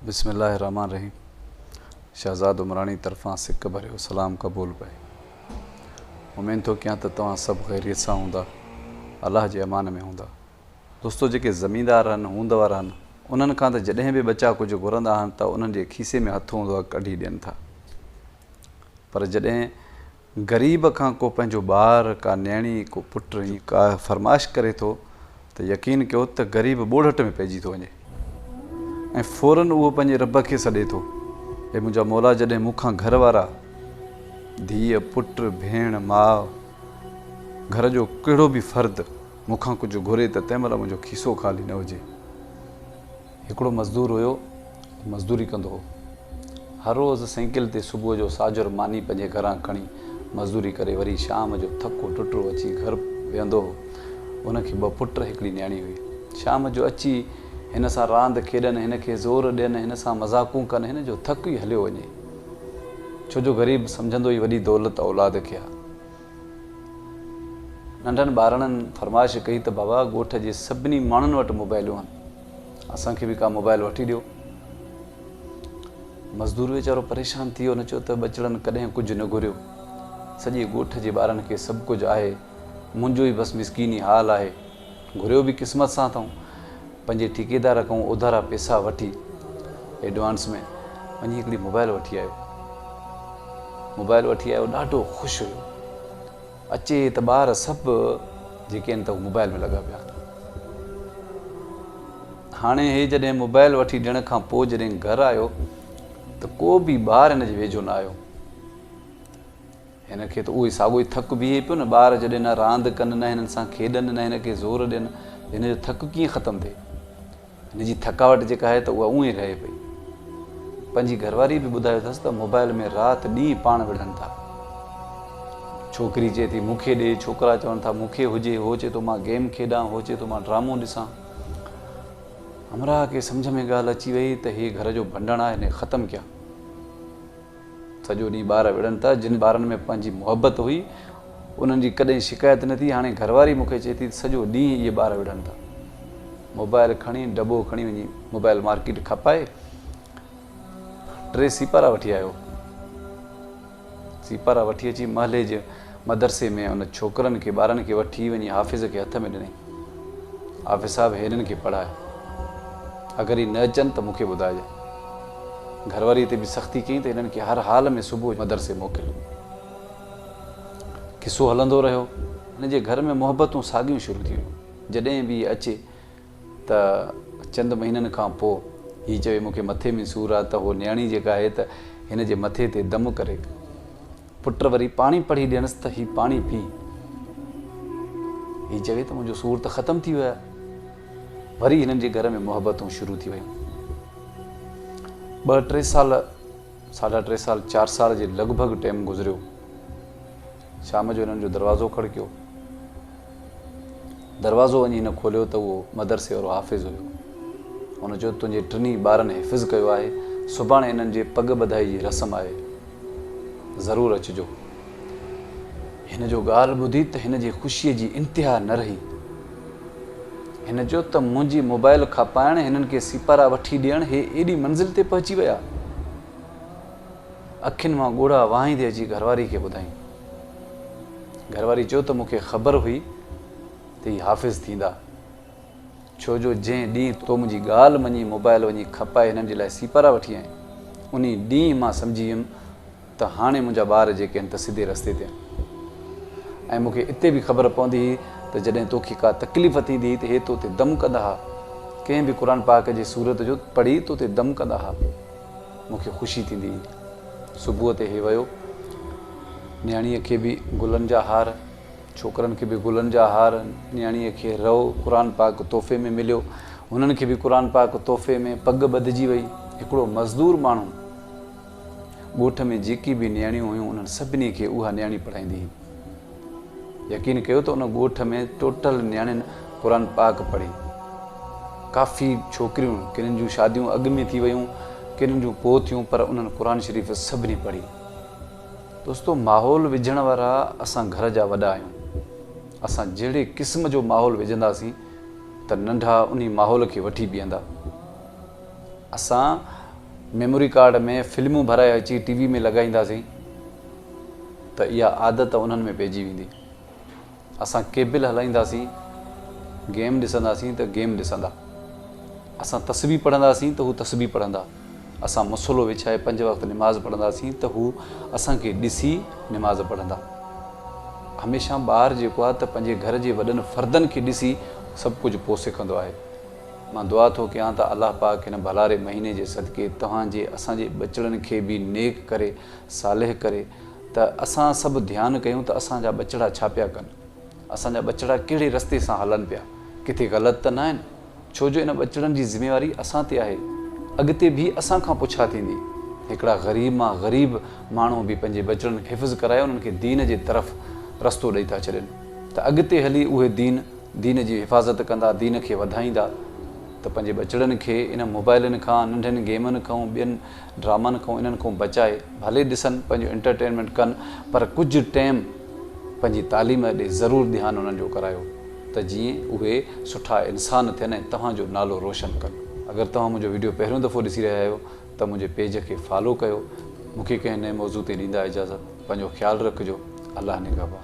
بسم الله الرحمٰن الرحيم شهزاد عمراڻي طرفان سڪ ڀريو سلام قبول پئي امين ٿو ڪيان ته توهان سڀ خيريت سان هوندا الله جي امان ۾ هوندا دوستو جيڪي زميندار هن هوند وارا هن انهن کان ته جڏهن به ٻچا ڪجهه گهرندا آهن ته انهن جي کيسي ۾ هٿ هوندو آهي ڪڍي ڏين ٿا پر جڏهن غريب کان ڪو پنهنجو ٻار، ڪا نيڻي، ڪو پٽ ۽ ڪا فرمائش ڪري ٿو ته يقين ڪيو ته غريب ٻوڙهٽ ۾ پئجي ٿو وڃي ۽ فورا اهو پنهنجي رب کي سڏي ٿو، اي منهنجا مولا جڏهن مون کان گهر وارا، ڌيء، پٽ، ڀيڻ، ماء، گهر جو ڪهڙو به فرد مون کان ڪجهه گهري ته تنهن مهل منهنجو کيسو خالي نه هجي. هڪڙو مزدور هيو، مزدوري ڪندو هو. هر روز سئيڪل تي صبح جو ساجهر ماني پنهنجي گهران کڻي مزدوري ڪري وري شام جو ٿڪو ٽٽو اچي گهر ويهندو هو. هن کي ٻه پٽ هڪڙي نياڻي هئي. شام جو اچي هن سان راند کيڏن، هن کي زور ڏين، هن سان مذاقون ڪن، هن جو ٿڪ ئي هليو وڃي. ڇو جو غريب سمجهندو ئي وڏي دولت اولاد کي آ. ننڍن ٻارڙن فرمائش ڪئي ته بابا ڳوٺ جي سڀني ماڻهن وٽ موبائلون هن. اسان کي به ڪا موبائل وٺي ڏيو. مزدور ويچارو پريشان ٿي ويو ان چيو ته ٻچڙن ڪڏهن ڪجهه نه گهريو. سڄي ڳوٺ جي ٻارن کي سڀ ڪجهه آهي. منهنجو ئي بس مسڪيني حال آهي. گهريو به قسمت سان اٿئون. پنهنجي ٺيڪيدار کان اوڌارا پيسا وٺي ايڊوانس ۾ وڃي هڪڙي موبائل وٺي آيو. موبائل وٺي آيو ڏاڍو خوش هيو. اچي ته ٻار سڀ جيڪي آهن هو موبائل ۾ لڳا پيا آهن. هاڻي هي جڏهن موبائل وٺي ڏيڻ کان پوء جڏهن گهر آيو ته ڪو به ٻار هن جي ويجهو نه آيو. هن کي ته اهوئي ساڳيو ئي ٿڪ بيهي پيو نه ٻار جڏهن نه راند ڪن نه هنن سان کيڏن نه هن کي زور ڏين ته هن جو ٿڪ ڪيئن ختم ٿئي. هن جي ٿڪاوٽ جيڪا آهي ته اها اونء ئي رهي پئي. پنهنجي گهرواريء به ٻڌايو اٿس ته موبائيل ۾ رات ڏينهن پاڻ وڙهن ٿا. ڇوڪري چئي ٿي مون کي ڏي، ڇوڪرا چون ٿا مون کي هجي، هو چئي ٿو مان گيم کيڏان، هو چئي ٿو مان ڊرامو ڏسان. همراهه کي سمجهه ۾ ڳالهه اچي وئي ته هي گهر جو ڀنڊڻ آهي، هن کي ختم ڪيان. سڄو ڏينهن ٻار وڙهن ٿا، جن ٻارن ۾ پنهنجي محبت هئي، انهن جي ڪڏهن شڪايت نه ٿي، هاڻي گهرواري مون کي چئي ٿي ته سڄو ڏينهن اهي ٻار وڙهن ٿا. موبائل کڻي دٻو کڻي وڃي موبائل مارڪيٽ کپائي ٽي سيپارا وٺي آيو. سيپارا وٺي اچي محلي جي مدرسي ۾ ان ڇوڪرن کي ٻارن کي وٺي وڃي حافظ کي هٿ ۾ ڏنائين. حافظ صاحب هنن کي پڙهاء. اگر هي نه اچن ته مون کي ٻڌائجان. گهرواريء تي به سختي ڪيائين ته هنن کي هر حال ۾ صبح مدرسي موڪل. قصو هلندو رهيو. هن جي گهر ۾ محبتون ساڳيون شروع ٿي ويون. جڏهن به هي اچي. ته چند مهينن کان پوء هي چوي مون کي مٿي ۾ سور آهي ته هوء نياڻي جيڪا آهي ته هن جي مٿي تي دم ڪري. پٽ وري پاڻي پڙهي ڏيڻس ته هي پاڻي پي. هي چوي ته منهنجو سور ته ختم ٿي ويو آهي. وري هنن جي گهر ۾ محبتون شروع ٿي ويون. ٻه ٽي سال، ساڍا ٽي سال، چار سال جي لڳ ڀڳ ٽيم گذريو. شام جو هنن جو دروازو کڙڪيو. دروازو وڃي هن کوليو ته اهو مدرسي وارو حافظ هيو. هن چيو، تنهنجي ٽنهي ٻارن حفظ ڪيو آهي، سڀاڻي انهن جي پڳ ٻڌائي جي رسم آهي. ضرور اچجو. هن جو ڳالهه ٻڌي ته هن جي خوشيء جي انتها نه رهي. هن چيو ته منهنجي موبائل کپائڻ، هنن کي سيپارا وٺي ڏيڻ، هي ايڏي منزل تي پهچي ويا. اکين مان ڳوڙها وهائيندي اچي گهرواري کي ٻڌائين. گهرواري چيو ته مون کي خبر هئي ته هي حافظ ٿيندا، ڇو جو جنهن ڏينهن تو منهنجي ڳالهه مڃي موبائل وڃي کپائي هنن جي لاء سيپارا وٺي آئين، انهي ڏينهن مان سمجهي ويم ته هاڻي منهنجا ٻار جيڪي آهن ته سڌي رستي تي آهن ۽ مون کي اتي به خبر پوندي هئي ته جڏهن تو کي ڪا تڪليف ٿيندي هئي ته هي تو تي دم ڪندا ها، ڪنهن به قرآن پاڪ جي سورت جو پڙهي تو تي دم ڪندا ها. مون کي خوشي ٿيندي هئي. صبح تي هي ويو. نياڻيء کي به گلن جا هار، ڇوڪرن کي به گلن جا هار، نياڻيء کي رئو قرآن پاڪ تحفي ۾ مليو. هنن کي به قرآن پاڪ تحفي ۾. پڳ ٻڌجي وئي. هڪڙو مزدور ماڻهو ڳوٺ ۾ جيڪي به نياڻيون هيون انهن سڀني کي اها نياڻي پڙهائيندي هئي. يقين ڪيو ته ان ڳوٺ ۾ ٽوٽل نياڻين قرآن پاڪ پڙهي. ڪافي ڇوڪريون ڪن جون شاديون اڳ ۾ ٿي ويون ڪن جون پوء ٿيون پر انهن قرآن شريف سڀني پڙهي. دوستو ماحول وجهڻ وارا اسان گهر جا وڏا آهيون. اسان جهڙي قسم جو ماحول وجهنداسين ته ننڍا انهي ماحول کي وٺي بيهندا. اسان ميموري ڪارڊ ۾ فلمون ڀرائي اچي ٽي وي ۾ لڳائينداسين. ته اها عادت انهن ۾ پئجي ويندي. اسان ڪيبل هلائينداسين، گيم ڏسنداسين ته گيم ڏسندا. اسان تسبيح پڙهنداسين ته هو تسبيح پڙهندا. اسان مصلو وڇائي پنج وقت نماز پڙهنداسين ته هو اسان کي ڏسي نماز پڙهندا. هميشه ٻار جيڪو آهي ته پنهنجي گهر جي وڏن فردن کي ڏسي سڀ ڪجهه پوء سکندو آهي. مان دعا ٿو ڪيان ته الله پاڪ هن ڀلاري مهيني جي صدقي توهان جي اسان جي ٻچڙن کي به نيڪ ڪري صالح ڪري ته اسان سڀ ڌيان ڪيون ته اسان جا ٻچڙا ڇا پيا ڪن؟ اسان جا ٻچڙا ڪهڙي رستي سان هلن پيا؟ ڪٿي غلط ته ناهن؟ ڇو جو ان ٻچڙن جي ذميواري اسان تي آهي. اڳتي به اسان کان پڇا ٿيندي. هڪڙا غريب مان غريب ماڻهو به پنهنجي ٻچڙن کي حفظ ڪرائي انهن کي دين جي طرف رستو ڏئي ٿا ڇڏين ته اڳتي هلي اهي دين دين جي حفاظت ڪندا دين کي وڌائيندا ته پنهنجي ٻچڙن کي انهن موبائلن کان ننڍين گيمن کان ٻين ڊرامن کان انهن کان بچائي ڀلي ڏسن پنهنجو انٽرٽينمينٽ ڪن پر ڪجهه ٽيم پنهنجي تعليم ڏي ضرور ڌيان انهن جو ڪرايو ته جيئن اهي سٺا انسان ٿين ۽ توهان جو نالو روشن ڪن اگر توهان منهنجو وڊيو پهريون دفعو ڏسي رهيا آهيو ته منهنجي پيج کي فالو ڪيو مونکي ڪنهن نئين موضوع تي ڏيندا اجازت. پنهنجو خيال رکجو الله نگهبان.